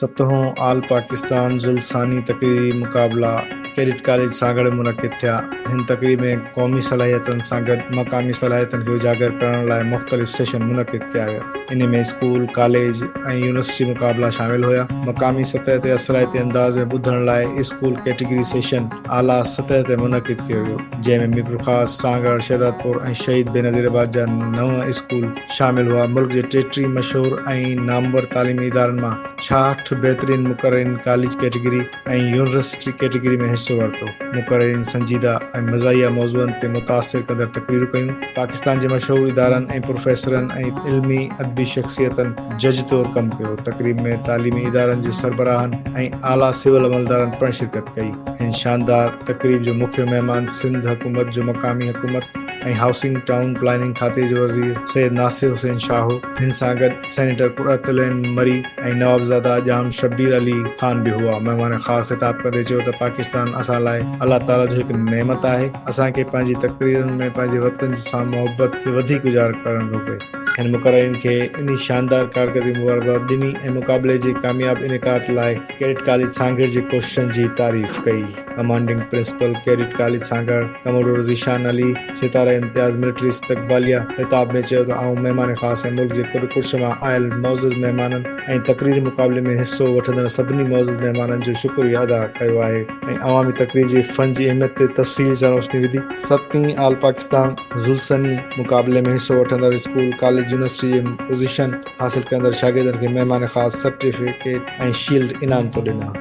ستهون all Pakistan ذل ثاني تقريري مقابلا ڪيڊٽ ڪاليج سانگهڙ منعقد ٿيا، هن تقريب ۾ قومي صلاحيتن سان گڏ مقامي صلاحيتن کي اجاگر ڪرڻ لاء مختلف سيشن منعقد ڪيا ويا، انهي ۾ اسڪول، ڪاليج ۽ يونيورسٽي مقابلا شامل هيا، مقامي سطح تي اثرائتي انداز ۾ ٻڌڻ لاء اسڪول ڪيٽيگري سيشن، اعليٰ سطح تي منعقد ڪيو ويو، جنهن ۾ ميرپورخاص، سانگهڙ، شهدادپور ۽ شهيد بينظير آباد جا نو اسڪول شامل هئا، ملڪ جي ٽيٽيهه مشهور ۽ نامور تعليمي ادارن مان ڇاهٺ بهترين مقررين ڪاليج ڪيٽيگري ۽ يونيورسٽي ڪيٽيگري ۾ حصو ورتو، مقررين سنجيده ۽ مزاحيه موضوعن تي متاثر ڪندڙ تقريرون ڪيون، پاڪستان جي مشهور ادارن ۽ پروفيسرن ۽ علمي ادبي شخصيتن. جج طور ڪم ڪيو. تقريب ۾ تعليمي ادارن جي سربراهن ۽ اعليٰ سول عملدارن پڻ شرڪت ڪئي. هن شاندار تقريب جو مکيه مهمان سنڌ حڪومت جو مقامي حڪومت ۽ هائوسنگ ٽائون پلاننگ کاتي جو وزير سيد ناصر حسين شاهه هو. هن سان گڏ سينيٽر قرت العين مري ۽ نوابزاده ڄام شبير علي خان به هئا. مهمان خاص خطاب ڪندي چيو ته پاڪستان اسان لاء الله تعاليٰ جو هڪ نعمت آهي. اسان کي پنهنجي تقريرن ۾ پنهنجي وطن سان محبت کي وڌيڪ اجاگر ڪرڻ گهربي. هن مقررين کي انهي شاندار ڪارڪردگي مبارڪباد ڏني ۽ مقابلي جي ڪامياب انعقاد لاء ڪيڊٽ ڪاليج سانگهڙ جي ڪوششن جي تعريف ڪئي. Commanding principal cadet college Sanghar commodore Zeeshan Ali, Sitara Imtiaz military استقباليه خطاب ۾ چيو ته آئون مهمان خاص ۽ ملڪ جي ڪڏ ڪڙڇ مان آيل معزز مهمانن ۽ تقريري مقابلي ۾ حصو وٺندڙ سڀني معزز مهمانن جو شڪريه ادا ڪيو آهي ۽ عوامي تقرير جي فن جي اهميت تي تفصيل سان روشني وڌي. ستين آل پاڪستان ذوالسني مقابلي ۾ حصو وٺندڙ اسڪول، ڪاليج، يونيورسٽي جي پوزيشن حاصل ڪندڙ شاگردن کي مهمان خاص، سرٽيفڪيٽ ۽ شيلڊ انعام طور ڏنا.